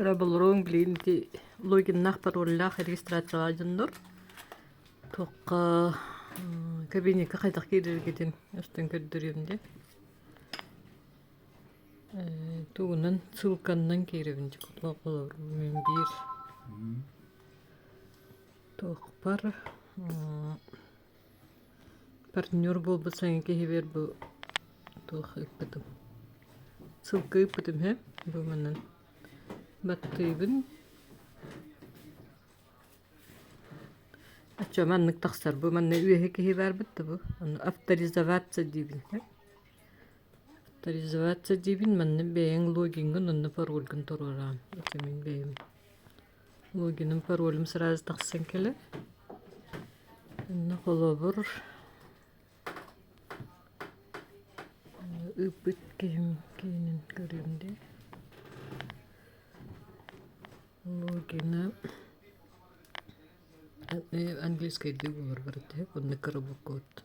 Ыра болоруҥ билин ити логиннаахтар уоллаах регистрациялаах дьоннор. Туохха кабинетка хайдах киирэргитин устун көрдөрүөм де. Тугунан ссылканнан кииребин дьэ кутуох олорбун биир. Туохпар Партнер буолбут саҥа киһибэр бу туох ыыппытым. Сылка ыыппытым ээ, бу манан баттыыбын. Оччо маннык тахсар бу манна үөһэ киһи баарбыт да бу ону авторизоваться диибин ээ. Авторизоваться диибин манна бэйэҥ логиҥҥын онно парольгун туруораан итимин бэйэм Логиным, паролум сразу тахсан кэлэр. Инна холобур ыппыт киһим киинин көрүм дии. Логина английскай дуу барбарыттыһык онны коробуккут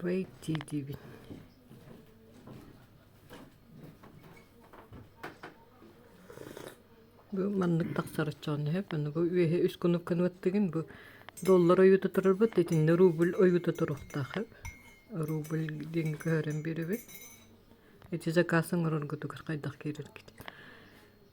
Бэйдии диибин Бу маннык тахсар оччоҕуна сөп аны бу үөһэ үс кунук гыныбыттыгын бу доллар ойуута турарбыт итиннэ рубль ойуута туруохтаах эбит рубль диэҥҥэ көһөрөн биэрэбин ити заказ оҥороргутугар хайдах киирэргит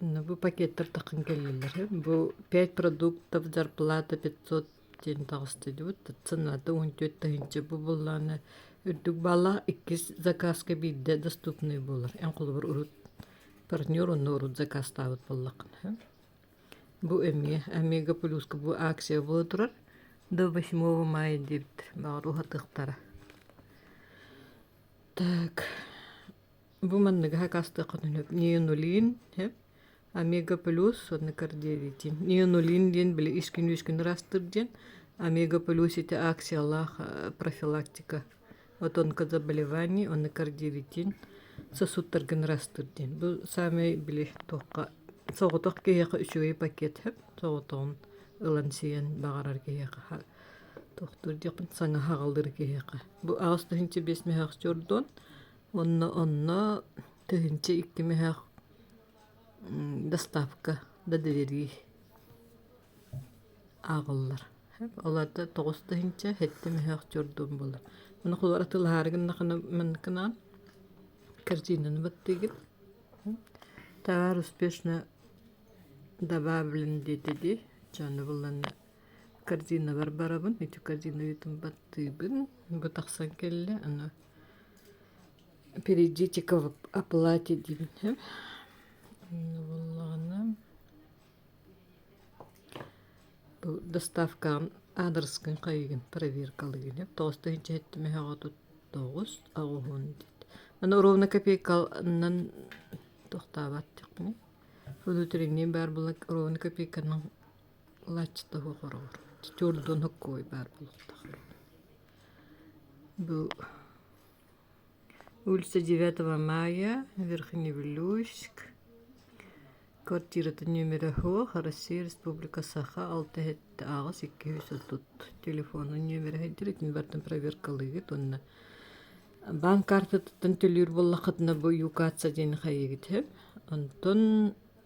Ну, бу пакеттартан кэллилэр. Бу пять продуктов зарплата пятьсот диэн таҕыстыдыбыт. Цената он төрт тыһыынча бууллаана үрдүк баала иккис закаска биирдэ доступный буолар. Эн холобур урут партнер онно урут закастаабыт боллакына. Бу эмиэ Омега плюска бу акция буола турар. До восьмого мая диэбит. Баҕар уһатыктара. Так. Бу манныгаха кастыаххытын сөп. Нионулин, сөп. Омега плюс, онно кардиовитин. Нионулин диэн били искин-үискин ырастыр диэн. Омега плюс ити акциялаах профилактика. Отон заболеваний, онно кардиовитин сосудтаргын ырастыр диэн. Бу самый били туохха соҕотох киһиэхэ үчүгэй пакет сөп. Соҕотоҕун ылан сиэн баҕарар киһиэхэ тохтур диэхпин саҥа хаҕалдыр киһиэхэ. Бу аҕыс тыһыынча биэс мөһөөх Уонна онно тыһыынча икки мөһөөх доставка да delivery ааҕыллар. Ол арда тоҕус тыһыынча сэттэ мөһөөх чордуун буолар. Маны кулуар атыылаһаары гыннахына манныкынаан корзинаны баттыыгын. Товар успешно добавлен диэти дии, чону булланна Корзиналар барабын, ити корзиналытын баттыыбын, бу тахсан кэллэ, аны перейдите-ка в оплате диибин сөп. Аны буоллаҕына бу доставкаҕын аадырыскын хайыгын, проверкалыгын сөп, тоҕус тыһыынча сэттэ мөһө аҕа тоҕус аҕыһын диэт. Аны ровно копейканан тохтообот диэхпиний? Внутренние баар буолан ровно копейканан лач тоһу хороҕор чурдунук куой баар буолтах бу улица девятого мая верхневилюйск квартирата номер оһох россия республика саха алта эһэтэ аҕыс икки үс отут телефонун нөмерэ итин бартан проверкалыыгыт уонна банк картатыттан төлүүр буоллаххытына бу юкатса диэн хайыгыт онтон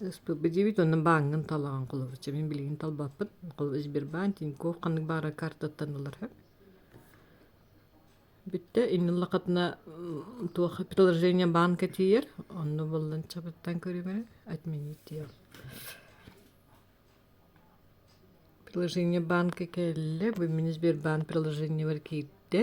Ыспыппыт диэбит онно бааҥҥын талаҕын холобурча мин билигин талбаппын холобур Сбербанк Тинькофф ханнык баара картаттан ылара бүттэ иннин лакатына туоха приложение банка тиийэр онно буоллан чабыттан көрүөм эрэ отменить диэм приложение банка кэллэ бу мин Сбербанк приложениебар киирдэ